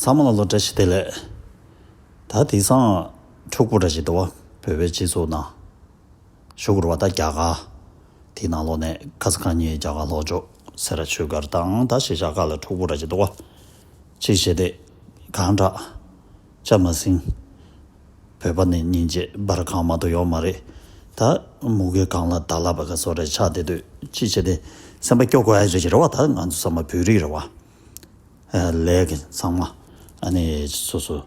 ཚང་མ་ལ་ལོ་བཀྲ་ཤིས་བདེ་ལེགས། ད་དེང་སང་ཕྲུག་པོ་འདྲ་ཞིག་འདུག་བ་བོད་པའི་སྤྱི་ཚོགས་ནང། ཞུ་གུར་བ་ད་རྒྱ་གར་དེའི་ནང་ལོག་ནས་ཁ་ས་ཁང་གཉིས་རྒྱ་གར་ལྷོ་ཕྱོགས་སེ་ར་ཆོས་སྒར་དང་ད་ཤེས་བྱ་ག་ལ་ཕྲུག་པོ་འདྲ་ཞིག་འདུག་བ། ཅིག་བྱས་ཏེ་གང་འདྲ། ཆ་མ་ཟིན། བོད་པ་ནི་སྙིང་རྗེ་འབར་གང་མང་དུ་ཡོག་མ་རེད་ད། མུ་གེ་གང་ལ་བདག་ལ་བ་ག་སོག་རེ་ཆག་དེ་དུས་ཅི་བྱེད་དེ་སེམས་པ་སྐྱོ་གོ་ཨེ་རེད་རེ་བ་ད་ང་ཚོ་ས་མ་བུ་རིགས་རེ་བ། ལས་ཀྱི་ཚང་མ་ཨ་ནི་སོ་སོ་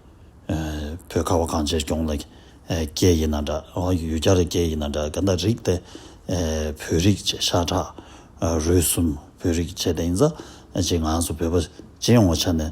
བོད་ཁ་བ་གངས་ཅན་སྐྱོང་ལ་སྐྱེས་ཡིན་ན་འདྲ་ཡུལ་རྒྱ་ར་སྐྱེས་ཡིན་ན་འདྲ་ག་འདྲ་རིགས་དེ་བོད་རིགས་བྱེད་ཤ་ཁྲག་རུས་གསུམ་བོད་རིགས་བྱེད་དེ་ཡིན་ཙང་ཅི་ང་ཚོ་བོད་པ་སྤྱི་ཡོངས་ཆ་ནས་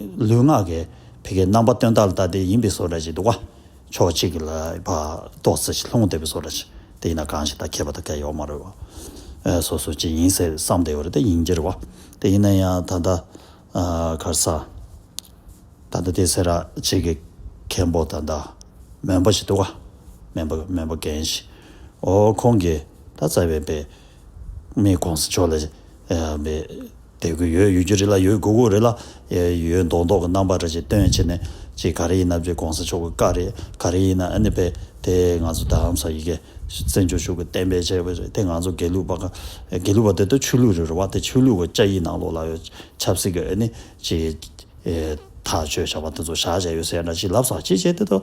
ལུས་ངག་གི་བད་ཀན་རྣམ་པ་སྟོན་ལྟར་ལྟ་དེ་ཡིན་པའི་བཟོ་ལྟ་ཞིག་འདུག་གོ། ཕྱོགས་གཅིག་གི་ལ་བ་ཏོག་ཙེ་ཞིག་ལྷུང་བསྡད་པའི་བཟོ་ལྟ་ཞིག་དེ་ཡིན་ན་གང་ཞིག་ད་མཁས་པ་དང་མཁས་ཡོག་མ་རེད་བ། སོ་སོ་ཅི་ཡིན་ཟེར་བསམ་བསྡད་ཡོད་རེད་དེ་ཡིན་གྱི་རེད་བ། དེ་ཡིན་ན་ཡང་ད་ལྟ་གར་ས། ད་ལྟ་དེ་ཟེར་ར་གཅིག་གི་མཁན་པོ་དང་འདྲ་མོན་པ་ཞིག་འདུག་གོ། མོན་པ་མོན་པ་རྒན་ཞིག་འོ་ཁོང་གིས་ད་རྩ་བའི་བེད་མེད་གོང་ས་མཆོག་ལ་བེད་བསྡད་ཀྱི་ཡོད་ཡོད་རྒྱུ་རེད་ལ་ཡོད་དགོས་དགོས་རེད་ལ། ཡོད་མདོག་མདོག་གི་རྣམ་པ་འདྲ་ཅིག་སྟོན་བྱས་ནས་ཅིག་ག་རེ་ཡིན་ན་བརྗོད་གོང་ས་མཆོག་གི་བཀའ་རེད་ག་རེ་ཡིན་ན་ཨ་ནི་བས་དེ་ང་ཚོ་དར་ཧམ་ས་ཡི་གེ་བཙན་བྱོལ་ཕྱུག་གི་བསྟན་པའི་བྱས་པ་རེད་དེ་ང་ཚོ་དགེ་ལུགས་པ་དགེ་ལུགས་པ་དེ་ད་ཆོས་ལུགས་རེད་རེད་བ་དེ་ཆོས་ལུགས་ཀྱི་བཅའ་ཡིག་ནང་ལོགས་ལ་ཡོད་ཆབ་སྲིད་ཀྱི་ཨ་ནི་ཅིག་ཐག་གཅོད་བྱས་པ་དེ་ཚོ་བཞག་བྱས་ཡོད་ཟེར་ཡ་འདྲ་ཅིག་ལབ་ས་ཅིག་བྱས་དེ་ད།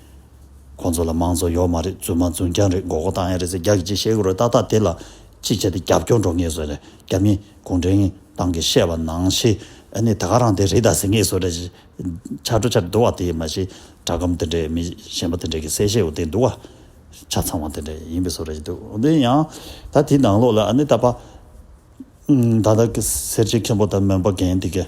ཁོང་ཚོ་ལ་དམངས་གཙོ་ཡོག་མ་རེད་རྫུན་མ་རྫུན་རྐྱང་རེད་མགོ་སྐོར་བཏང་ཡ་རེད་ཟེར་རྒྱ་གི་ཅི་བཤད་ཀྱི་རེད་ཏག་ཏག་དེ་ལ་ཅི་བྱས་ཏེ་རྒྱབ་སྐྱོར་འགྲོ་ངེས་བཟོས་རེད་རྒྱ་མི་གུང་ཁྲན་ཏང་གི་བཤད་པ་ནང་བཞིན་ཨ་ནི་ད་ག་རང་དེ་རེད་ད་ཟེར་ངེས་བཟོས་རེད་ཆ་འགྲོ་ཆ་འདུག་བ་དེ་མ་གཞི་དྲ་སྒམ་དེ་འདྲས་མི་གཞན་པ་དེ་འདྲས་ཀྱི་གསལ་བཤད་འོག་དེ་འདུག་བ་ཆ་ཚང་བ་དེ་འདྲས་ཡིན་པས་བཟོས་རེད་འདུག་འོན་ཏེ་ཡང་ད་དེའི་ནང་ལོགས་ལ་ཨ་ནི་ད་པ་ད་ད་གི་སེར་བྱེས་མཁན་པོ་ད་མོན་པ་རྒན་དེ་གས།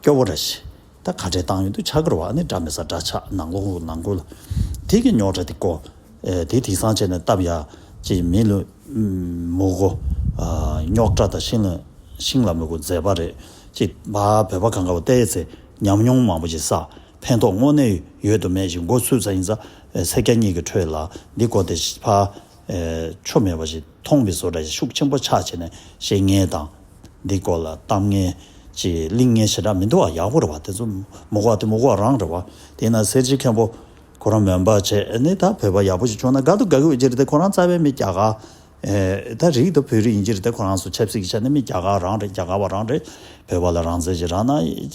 སྐྱོ་བོ་ར་བྱེད། ད་ག་འདྲའི་ཏང་ཡོན་དུ་ཆ་བགར་བ་ཨ་ནི་འདྲ་མི་ཟ་འདྲ་ཆགས་ནང་ལོག་ལུག་ནང་སྒོ་ལ། དེ་གི་ཉོག་འདྲ་དེ་ཀོ། དེ་དེ་སང་བྱས་ནས་བཏབ་ཡ། ཅེས་མི་ལུས། མུག་གོ། ཉོག་འདྲ་ད་ཤིང་ལ་ཤིང་ལ་མི་གོ་མཛེས་པ་རེད། ཅེས་བ་བོད་པ་གངས་དཀར་བ་བལྟས་ཡས་ཚེ་ཉམས་མྱོང་མང་པོ་ཞིག་བསགས་ཕན་ཐོགས་དངོས་གནས་ཡོད་དུ་མེད་ཞིག་མགོ་ཚུད་ས་ཡིན་ས། སེར་སྐྱ་གཉིས་ཀྱི་ཁྲོད་ལ་འདི་གོ་དེ་བ། ཆོ་མེད་པ་ཞིག་མཐོང་བས་བཟོ་གྲྭ་ཞིག་ཤུགས་ཆེན་པོ་ཆགས་བྱས་ནས་བཤད་ངན་དང། འདི་སྐོར་ལ་གཏམ་ངན། ཅེས་གླིང་ངན་ཞེ་དྲག་མི་འདུག་ཨ་ཡག་པོ་རེད་བ་དེ་ཚོ་མུ་ཁོག་དེ་མུ་ཁོག་རང་རེད་བ། དེས་ན་སེར་བྱེས་མཁན་པོ། ཁོ་རང་མོན་པ་བྱས་ནས་ད་བོད་པ་ཡག་པོ་ཞིག་བྱུང་ན་དགའ་འདུག་དགའ་གི་འོས་གྱི་རེད་དེ་ཁོ་རང་རྩ་བའི་མི་རྒྱ་གར། ད་རིག་ད་བོད་རིགས་ཡིན་གྱི་རེད་དེ་ཁོ་རང་སུ་ཆབ་སྲིད་ཀྱི་ཆ་ནས་མི་རྒྱ་གར་རང་རེད་རྒྱ་གར་བ་རང་རེད། བོད་པ་ལ་རང་བཙན་གྱི་རག་ན་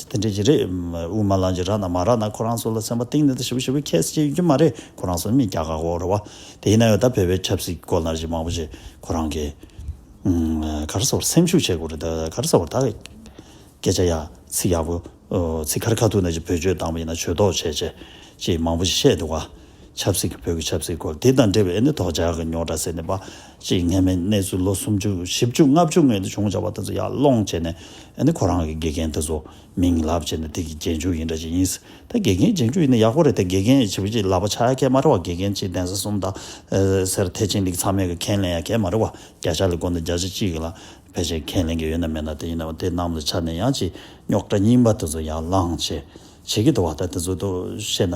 དེ་འདྲས་ཀྱི་རེད། དབུ་མ་ལམ་གྱི་རག་ན་མ་རག་ན་ཁོ་རང་སུ་ལ་སེམས་པ་གཏིང་ནས་ད་ཞིབ་པོ་ཞིབ་པོ་ཁྱེད་སུ་ཅིག་ཡོད་ཀྱི་མ་རེད་ཁོ་རང་སུ་ནི་མི་རྒྱ་གར་བ་རེད་བ། དེ་ཡིན་ན་ཡང་ད་བོད་པའི་ཆབ་སྲིད་སྐོར་ལ་རྗེ་མང་པོ་ཞིག་ཁོ་རང་གིས་ག་རེ་ཟེར་བར་སེམས་ཤུགས་ཆེ་དགོས་རེད་ད་ག་རེ་ཟེར་བར་ད་སྐད་ཆ་ཡག་ཚིག་ཡག་པོ་ཚིག་ཁ་རི་ཁ་ཐུག་ན་ཅིག་བོད་ཆོས་བཏང་བ་ཡིན་ན་ཆོས་ཐོག་བྱས་བྱས་ཅེས་མང་པོ་ཞིག་བཤད་འདུག་ག་ཆབ་སྲིད་ཀྱི་བོད་ཀྱི་ཆབ་སྲིད་སྐོར་དེ་དང་འབྲེལ་བའི་ཨེ་ནི་དོག་འཇགས་ཀྱི་ཉོག་དྲ་ཟེར་ནས་པ་ཅིག་ངན་མེད་གནས་ཚུལ་ལོ་སུམ་ཅུ་བཞི་བཅུ་ལྔ་བཅུ་སྔོན་དུ་བྱུང་བྱ་བ་དེ་ཚོ་ཡར་སློང་བྱས་ནས་ཨེ་ནི་ཁོ་རང་གི་དགེ་རྒན་དེ་ཚོ་མིང་ལབ་བྱས་ནས་དེ་གི་རྗེས་འཇུག་ཡིན་འདྲ་ཅིག་ཡིན་སྲིད། ད་དགེ་རྒན་སྦྱང་རྒྱུ་ཡིན་ན་ཡག་པོ་རེད་དེ་དགེ་རྒན་ཡི་བྱེད་པོ་གཅིག་ལག་པ་ཆག་ཡ་ཁྱད་མ་རེ་བ་དགེ་རྒན་གཅིག་གདན་ས་གསུམ་དང། སེར་ཐེ་ཅིང་ལིག་ཚང་མས་གི་ཁས་ལེན་ཡ་ཁྱད་མ་རེ་བ་བརྒྱ་ཆ་ལི་དགོན་དང་བརྒྱ་ཆ་གཅིག་གི་ལ་ཕལ་ཆེར་ཁས་ལེན་གི་ཡོད་ན་མེད་ན་དེ་ཡིན་ནའོ་དེ་རྣམས་ལ་ཆ་ནས་ཡང་ཅིག་རྙོག་དྲ་རྙིང་པ་དེ་ཚོ་ཡར་ལངས་བྱེད་བྱེད་ཀྱི་འདུག་བ་ད་དེ་ཚོ་དུ་བཤད་ན།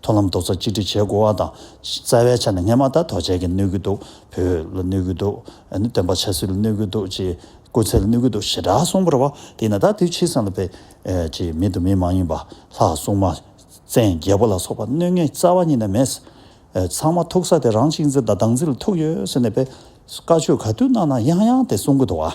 མཐོང་ལམ་རྡོག་རྩ་གཅིག་སྒྲིལ་བྱེད་དགོས་བ་དང། རྩ་བའི་ཆ་ནས་སྔས་མ་ད་དོག་ཆལ་གྱིས་གནོད་ཀྱི་འདུག་བོད་ལ་གནོད་ཀྱི་འདུག་སྟོན་པ་ཆ་སྲིད་ལ་གནོད་ཀྱི་འདུག་ཅེས་སྐུ་ཚེ་ལ་གནོད་ཀྱི་འདུག་ཞེ་དྲག་གསུངས་པར་བ་དེས་ན་ད་དུས་ཕྱིས་སམ་ལ་བེ་ཅེས་མི་དང་མི་མ་ཡིན་པ་ལྷ་སྲུང་མ། བཙན་རྒྱལ་པོ་ལ་སོགས་པ་གནོད་ངེས་རྩ་བ་ཉིད་ནས་མེད། ཚང་མ་ཐུག་ས་དེ་རང་གཅིག་འཛིན་དང་བདག་འཛིན་ལ་ཐུག་ཡོད་ཟེར་ནས་བེ་བཀའ་ཆོས་ག་དུས་གནང་ན་ཡང་ཡང་དེ་གསུང་གི་འདུག་བ།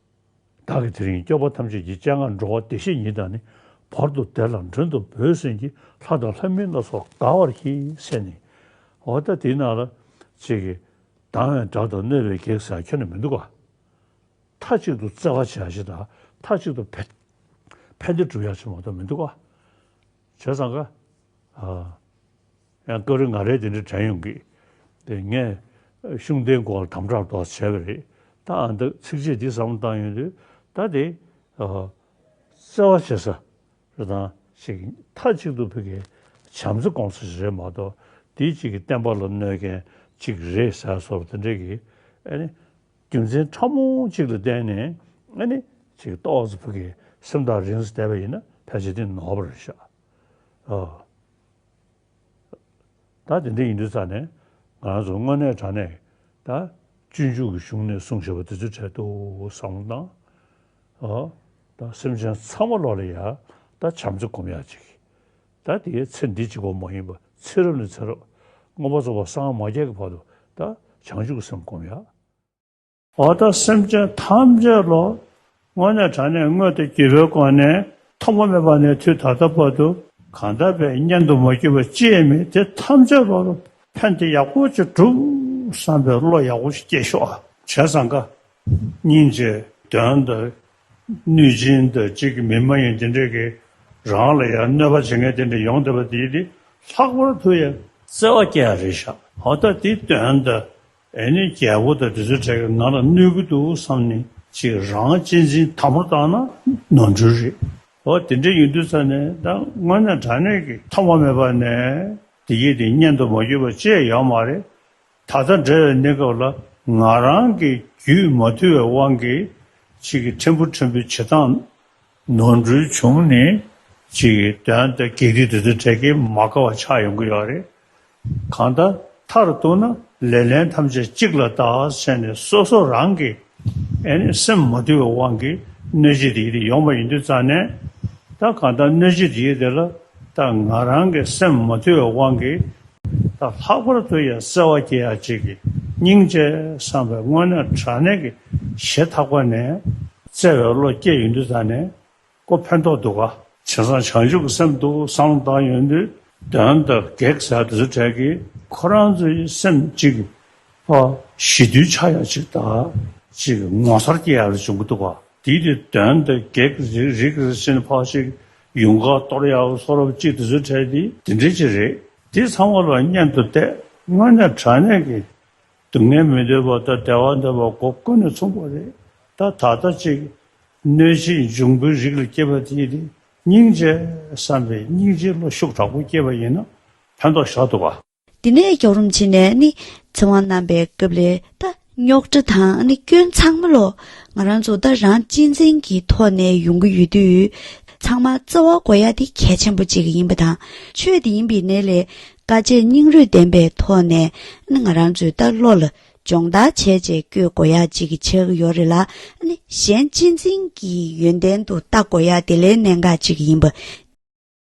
བདག་གིས་དེ་རིང་སྐྱོབ་པ་ཐམས་ཅད་ཀྱི་སྤྱན་སྔར་འགྲོ་བ་བདེ་གཤེགས་ཉིད་དང་ནི་བར་དུ་བདེ་ལ་མགྲོན་དུ་འབོད་ཟིན་གྱི་ལྷ་དང་ལྷ་མིན་སྣ་ཚོགས་དགའ་བར་གྱིས་སེ་ནི། འོ་ད་དེ་ན་ལ། ཅེས་ཀྱི། སྡང་བའི་དགྲ་དང་གནོད་པའི་བགེགས་ཟེར་བ་ཁྱོད་ན་མི་འདུག་ག། མཐའ་གཅིག་ཏུ་བརྩེ་བར་བྱ་ཞེས་དང་མཐའ་གཅིག་ཏུ་ཕན་བདེ་བསྒྲུབ་ཡག་ཅེས་མ་གཏོགས་མི་འདུག་ག། བྱས་ཙང་ག། ཡང་སྐབས་རེ་ང་རས་དེ་འདྲ་དྲན་ཡོང་གི། དེ་ངས་གཞུང་དེའི་མགོ་ལ་དམ་དྲག་དོགས་བྱས་པ་རེད། ད་ཨ་མདོས་ཚིག་རྗེས་འདི་བསམ་བློ་བཏང་ཡོང་དུས་ད་དེ། བརྩེ་བ་བྱེད་ས་རེ་དང་ཅིག་མཐའ་གཅིག་ཏུ་ཕི་གའི་བྱམས་བརྩེ་སྐོང་ས་ཞིག་རེད་མ་གཏོགས་དེའི་གཅིག་གི་བསྟན་པ་ལ་གནོད་མཁན་ཅིག་རེད་ཟེར་སོགས་དེ་འདྲའི་གི་ཨ་ནི། རྒྱུ་མཚན་ཕྲ་མོ་གཅིག་ལ་བརྟེན་ནས་ཨ་ནི། ཅིག་རྟོགས་ས་ཕི་གའི་སེམས་ཐག་རིང་ས་བསྡད་པ་ཡིན་ན་ཕལ་ཆེར་དེ་ནོར་བ་རེད་ཤག། ད་དེ་འདྲ་ཡིན་དུས་ཙང་ནས་ང་རང་ཚོ་དངོས་གནས་དྲང་གནས་ད་སྤྱོད་འཇུག་གི་གཞུང་ནས་གསུངས་ཞེས་པ་དེ་ཚོའི་གྲལ་དུ་བཟང་བོ་གནང། ད་སེམས་ཅན་ཚང་མ་ལོག་ལ་ཡག་ད་བྱམས་བརྩེ་སྒོམ་ཡག་ཅིག་ད་དེའི་ཚེ་འདི་གཅིག་པོ་མ་ཡིན་པར་ཚེ་རབས་ནས་ཚེ་རབས་དངོས་པོ་རྫོགས་པ་སངས་མ་རྒྱས་ཀྱི་བར་དུ་ད་བྱང་ཆུབ་ཀྱི་སེམས་སྒོམ་ཡག། འོག་ཏུ་སེམས་ཅན་ཐམས་ཅད་ལོ། སྔོན་ནས་དྲངས་ནས་སྔོན་དུ་གྱེས་པའི་སྒོ་ནས། ཐོག་མ་མེད་པ་ནས་དུས་ད་ལྟ་བར་དུ། གང་དག་པའི་གཉེན་དུ་མ་གྱུར་པ་ཅིས་མིན་དེ་ཐམས་ཅད་ལོ། ཕན་བདེ་ཡག་པོ་ཅིག་བསྒྲུབ། བསམ་པའི་བློ་ཡག་པོ་ཞིག་སྐྱེས་ཤོག། བྱས་ཙང་དགའ། སྙིང་རྗེ། དོན་དུ། གནོད་སྦྱིན་དུ་གཅིག་གི་མི་མ་ཡིན་དེ་འདྲས་ཀྱིས། རང་ལ་ཡང་གནོད་པ་བྱེད་མཁན་དེ་འདྲས་ཡོང་སྡོད་པ་དེས་ནི་ལྷག་པར་དུ་ཡང། བརྩེ་བ་སྐྱེ་བ་རེད་ཤག་འོ་ད་དེའི་དོན་དུ། ཨེ་ནི་རྒྱལ་པོ་དང་དྲི་ཟའི་གྲས་ཀྱིས་ང་ལ་གནོད་ཀྱི་འདུག་བསམ་ནས་ཅིག་རང་གཅེས་འཛིན་དམ་པོར་བཏང་ན་ནོར་འཁྲུལ་རེད། འོ་དེ་འདྲ་ཡིན་དུས་ཚར་ནས་ད་དངོས་གནས་དྲ་གནས་ཀྱི་ཐོག་མ་མེད་པ་ནས་དེ་སྐྱེས་དེ་བསྙད་དུ་མ་བསྐྱུར་བ་བཅས་ཡོད་མ་རེད། ད་ལྟ་འབྲེལ་བའི་གནས་སྐབས་ལ་ང་རང་གི་རྒྱུད་མ་ཐུལ་བའི་དབང་གིས་ཅིག་ཕྲན་བུ་ཕྲན་བུའི་བྱེད་སྟངས་ནོར་འཁྲུལ་བྱུང་ནས་ཅིག་དོན་དུ་གེ་དུས་དེ་ཚོའི་གྲས་ཀྱི་མ་དགའ་བ་ཆགས་ཡོང་གི་ཡོད་རེད། གང་ལྟར་མཐར་གཏུགས་ན་ལེ་ལན་ཐམས་ཅད་གཅིག་ལ་བཏགས་བྱས་ནས་སོ་སོ་རང་གི་སེམས་མ་དུལ་བའི་དབང་གིས་གནོད་བྱེད་དེ་ཡོང་བ་ཡིན་དུས་རྩ་ནས་ད་གང་ལྟར་གནོད་བྱེད་དེ་ལ་ད་ང་རང་གི་སེམས་མ་དུལ་བའི་དབང་གིས་ད་ལྷག་པར་དུ་ཡང་བརྩེ་བ་སྐྱེ་ཡ་གཅིག་གི་སྙིང་རྗེ་བསམ་པའི་སྔོན་ནས་དྲ་གནས་ཀྱི་གཞས་ཐག་པ་ནས་བརྩེ་བའི་བློ་སྐྱེ་ཡོང་དུས་ད་ནས་ཀོ་ཕན་ཐོགས་འདུག་ག། བྱས་ཙང་བྱང་ཆུབ་སེམས་ཏུ་སང་བཏང་ཡོང་དུས་དོན་དག་གེགས་བྱ་དུས་ཚོད་གྲལ་གྱི་ཁོ་རང་ཚོའི་སེམས་གཅིག་པ་ཞི་དུས་ཆགས་ཡ་གཅིག་དག་ཅིག་ངོ་མཚར་སྐྱེ་ཡ་རེ་བྱུང་གི་འདུག་ག་དེའི་དུས་དོན་དག་གེགས་རིགས་རིགས་རེ་ཕྱིན་ཕག་ཅིག་ཡུངས་ཀར་གཏོར་གཡག་སོགས་རབ་གཅིག་ཏུ་བཟོས་འཕྲལ་དེ། དེ་འདྲི་གཅིག་རེད་དེ་ཚང་མ་ལ་སྙན་དུ་གཏད་དངོས་གནས་དྲག་གནས་ཀྱི་སྡུག་བསྔལ་མི་འདོད་པ་དང་བདེ་བ་འདོད་པ་སྒོ་ཀུན་ནས་མཚུངས་པ་རེད་ད་ད་ལྟ་ཅིག་གནོད་བྱེད་འབྱུང་པོའི་རིགས་ལ་སྐྱེས་པ་དེས་དེ་སྙིང་རྗེ་བསམ་པའི་སྙིང་རྗེའི་བློ་ཤུགས་དྲག་པོ་སྐྱེས་པ་ཡིན་ན་ཕན་ཐོགས་ཤ་སྟོབས་པ། དེ་ནས་རྒྱོགས་རུམ་བྱས་ནས་ནི་ཚེ་དབང་བསྣམས་པའི་སྐབས་ལས་ད། རྙོག་དྲ་དང་ནི་སྐྱོན་ཚང་མ་ལོག་ང་རང་ཚོ་ད་རང་གཅེས་འཛིན་གྱི་ཐོག་ནས་ཡོང་གི་ཡོད་དུས་ཚང་མ་རྩ་བ་གོ་ཡ་དེ་གལ་ཆེན་པོ་ཅིག་ཡིན་པ་དང་ཆོས་དེ་ཡིན་པའི་གནས་ལས་དཀའ་སྤྱད་སྙིང་རུས་ལྡན་པའི་ཐོག་ནས་ནི་ང་རང་ཚོས་ད་བློ་ལ་སྦྱོང་བརྡར་བྱས་རྗེས་བསྐྱོད་གོ་ཡ་ཅིག་གི་ཆགས་ཡོད་རེད་ལ་ནི་གཞན་གཅེས་འཛིན་གྱི་ཡོན་ཏན་དུ་ལྟ་གོ་ཡ་དེ་ལས་གནད་འགག་ཅིག་ཡིན་པ།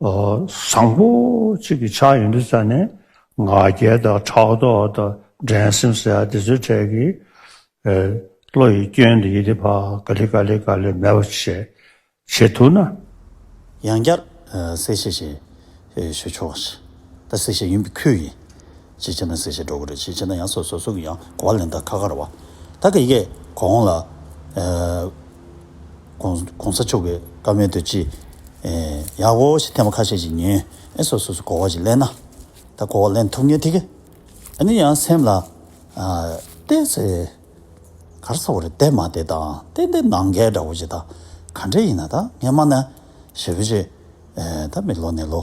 བཟང་པོ་གཅིག་གི་ཕྱག་ཡོན་དུ་བྱས་ནས་ང་རྒྱལ་དང་ཕྲག་དོག་དང་འགྲན་སེམས་ཟེར་ཡ་དེ་ཚོའི་གྲས་ཀྱི་བློ་ཡི་སྐྱོན་དེ་ཡི་དེ་བ་ག་ལི་ག་ལི་ག་ལི་མེད་པ་བྱེད་བྱེད་ཐུབ་ན། ཡང་བསྐྱར་གསལ་བཤད་ཞིག་ཞུ་ཆོག་ད་གསལ་བཤད་ཡིན་པའི་ཁུལ་ཡིན། ཅེས་བྱས་ན་གསལ་བྱེད་སྒྲོག་གི་རེད་ཅེས་བྱས་ན་ཡང་སོ་སོ་སོ་གི་ཡང་གོ་བ་ལེན་ད་ཁ་ཁར་བ། ད་གི་གེ་གོ་འོང་ལ། གོང་ས་མཆོག་གི་བཀའ་མོལ་དུ་ཅི་ཡག་གོ་ཞེས་ཐེངས་པ་ཁ་ཤས་ཅིག་ཉོན་ཨེ་སོ་སོ་སོ་གོ་བ་ཅིག་ལེན་ན་ད་གོ་བ་ལེན་ཐུབ་ངེས་དེ་གི་ཨ་ནི་ཡང་སེམས་ལ་བལྟས་ཚེ་གར་ས་བ་རེད་བལྟས་མ་བལྟས་ད་བལྟས་འདི་ནང་འགལ་འདྲ་བོ་ཅིག་ད་ག་འདྲས་ཡིན་ན་ད་ངས་སྨྲ་ན་ཞེ་བོ་ཅིག་ད་མི་ལོ་ནས་ལོ།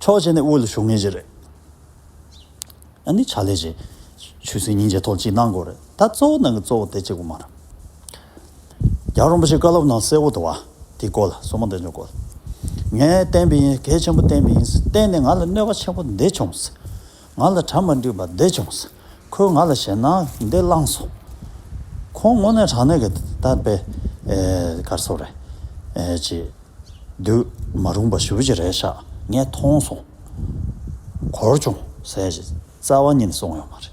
ཕྱོགས་གཅིག་ནས་དབུ་ལ་ཞུགས་ངེས་ཅི་རེད། ཨ་ནི་ཕྱག་ལས་ཅིག་ཆུད་ཟོས་ཉིན་བྱེད་ཐོག་ཅིག་གནང་དགོས་རེད་ད་གཙོ་བོ་ནང་གི་གཙོ་བོ་དེ་གཅིག་པོ་མ་རེད། རྒྱ་རོང་པ་ཞིག་བཀའ་སློབ་ནང་གསལ་བོ་འདུག་བ་དེའི་སྐོར་ལ་སོ་མ་འདེབས་མྱོང་དགོས། ངས་བསྟན་པ་ཡིན་གལ་ཆེན་པོ་བསྟན་པ་ཡིན་བསྟན་ནས་ང་ལ་གནོད་པ་ཆེན་པོ་འདི་བྱུང། ང་ལ་དྲ་མ་འདྲིས་པ་འདི་བྱུང་ཟེར། ཁོས་ང་ལ་ཞེད་སྣང་འདི་བསླངས་སོང། ཁོང་དངོས་གནས་དྲང་གནས་ཀྱི་དར་སྤེལ་སྐར་ཚོགས་རེད། ཅེས་བསྡུས། མ་རུངས་པ་ཞུ་བྱེད་རེད་ཤག་ངས་མཐོང་སོང། གོར་བྱུང་ཟེར་བཞིན་རྩ་བ་ཉིད་ནས་སོང་ཡོད་མ་རེད།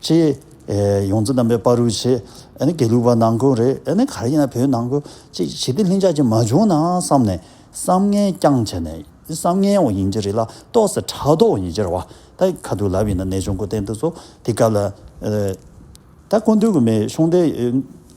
ཅེས། ཡོངས་འཛིན་རྣམ་པས་པར་རུས་བྱས། ཨ་ནི་དགེ་ལུགས་པ་ནང་ཁུལ་རེད་ཨ་ནི་ག་རེ་ཡིན་ན་བོད་ནང་ཁུལ་ཅིག་ཞི་བདེ་ལྷིང་འཇགས་ཅིག་མ་བྱུང་ན་བསམ་ནས་བསམ་ངན་རྐྱང་བྱས་ནས་བསམ་ངན་འོག་ཡིན་གྱི་རེད་ལ་ཏོག་སེ་ཕྲག་དོག་འོག་ཡིན་གྱི་རེད་བ་ད་ཁ་ཐུག་ལབ་ཡིན་ན་ནད་གཅོང་སྐུ་རྟེན་དུ་ཚོ་དེ་སྐབས་ལ། ད་སྐུ་མདུན་དགོས་མེད་གཤོང་སྡེ།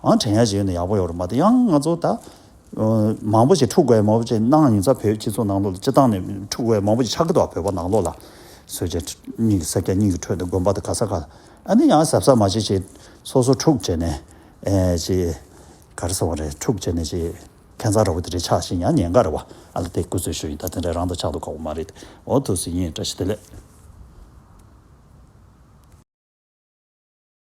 ཨང་དྲན་ཡ་བྱེད་ཡོད་ན་ཡག་པོ་ཡོད་རེད་མ་ཏི་ཡང་ང་ཚོ་ད། མང་པོ་ཞིག་འཁྲུག་བའི་མང་པོ་ཞིག་གནང་ཡིན་ས་བོད་སྤྱི་ཚོགས་ནང་ལོགས་ལ་སྤྱི་བཏང་ནས་འཁྲུག་བའི་མང་པོ་ཞིག་ཆགས་ཀི་འདུག་བོད་པ་ནང་ལོགས་ལ། སོས་ཆ་གཉིས་ཀྱི་སེར་སྐྱ་གཉིས་ཀྱི་ཁྲོད་དུ་དགོན་པ་དང་ག་ས་ག་ལ་ཨ་ནི་ཡང་གཟབ་གཟབ་མ་བྱེད་ཅིག་སོ་སོ་འཁྲུག་བྱས་ནས། ཅེས། ག་རེ་སོང་བ་རེད་འཁྲུག་བྱས་ནས་ཅེས། ཁེ་མཚར་ར་བོ་དེ་རེད་ཆགས་ཤིང་ཡང་ཉེན་ཁ་རེད་བ་ཨ་ལ་དེ་བཀོད་ཚོད་ཞུ་ཡིན་ད་དེ་འདྲ་རང་དང་ཆགས་འདུག་ཁག་པོ་མ་རེད་འོ་ཐུགས་ཟིན་ཡིན་བཀྲ་ཤིས་བདེ་ལེགས།